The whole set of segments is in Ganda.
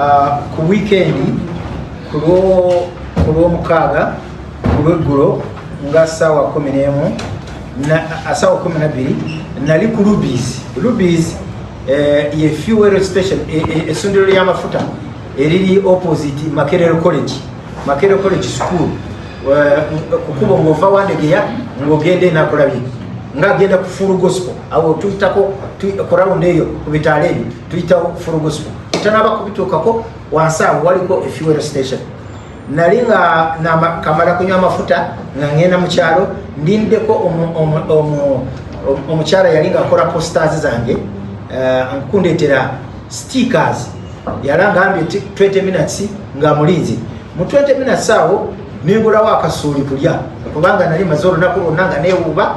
Ah, ku wiikendi ku lw'omukaaga ku lweggulo nga saawa kumi n'emu saawa kumi nabbiri nali ku lubis lubis eh, ye fuel station e, e, essundiro ly'amafuta eriri opposite makerero college makerero college school eh, kukuba ng'ova wandegeya ng'ogenda enakulabye ng'agenda ku full gospel awo tuyitako ku rawundi eyo ku bitaala ebyo tuyitawo full gospel tanaba kubituukako wansi awo waliko efuel station nali nga kamala kunywa amafuta nga ngenda mu kyalo ndindeko omukyala yali nga akola posters zange eh, nkundetera stickers yala ngambye 20 minutes nga mulinzi mu 20 minutes awo nengulawo akasuuli kulya kubanga nali maze olunaku lwonna nga newuuba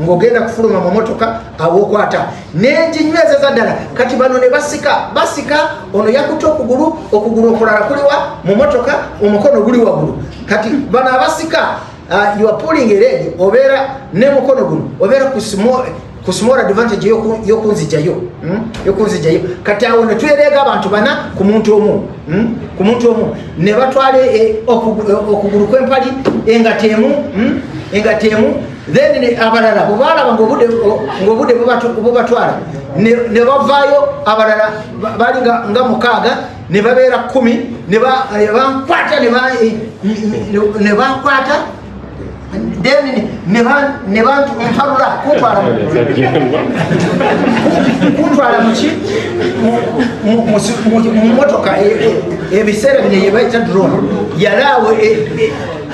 ng'ogenda kufuluma mu motoka awokwata nenjinywezaza ddala kati bano ne basika basika ono yakuta okugulu okugulu okulala kuliwa mu motoka omukono guli wagulu kati bano abasika ah, yopuling eredi obeera ne mukono guno obeera ku ku small advantage yokunzijayo hmm? yokunzijayo kati awo netwereega abantu bana ku muntu omu hmm? ku muntu omu ne batwala eh, okugulu kwempali engatemu hmm? engatemu then ne abalala bwebaalaba ngaobude bubatwala ne bavaayo abalala bali nga mukaaga ne babeera kumi ne bankwata ne bankwata then ne bantu mpalula kuntwala kuntwala muki mumotoka ebiseera bino yebaita drone yalaawo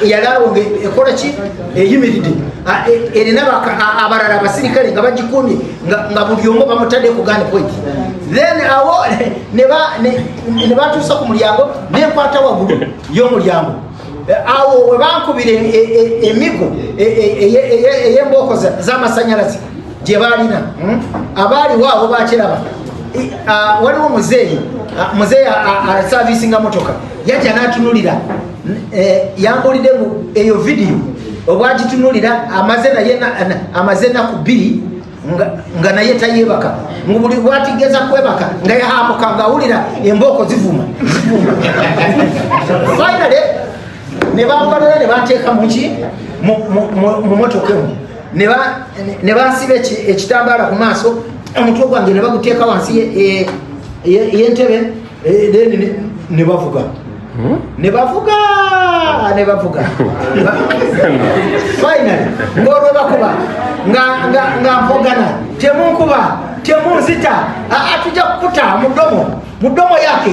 yalawo ekola ki eyimiridde e, erina abalala abasirikale nga bagikumye nga buli omu bamutadde ku gani point then awo ne batuusa ku mulyango nenkwata waggulu y'omulyango Eh, awo webankubira e, e, e, emigo eyembooko zamasanyalaze gye baalina hmm? abaaliwo abo bakiraba waliwo muzeeyi muzeeyi asavisinga motoka yajja n'atunulira e, yambulidde eyo vidiyo obwagitunulira amaze naye amaze enaku bbiri nga naye tayebaka ngubuli bwatigeza kwebaka nga yahamuka ngaawulira embooko zivuma finally ne bambalula ne banteeka muki mu motoka emu ne bansiba ekitambaala ku maaso omutwe gwange ne baguteeka wansi yentebe eh, ne bavuga hmm? ne bavuga ne bavuga finally ng'olwe bakuba nga mpogana temunkuba temunzita atujja kukuta mudomo mudomo yake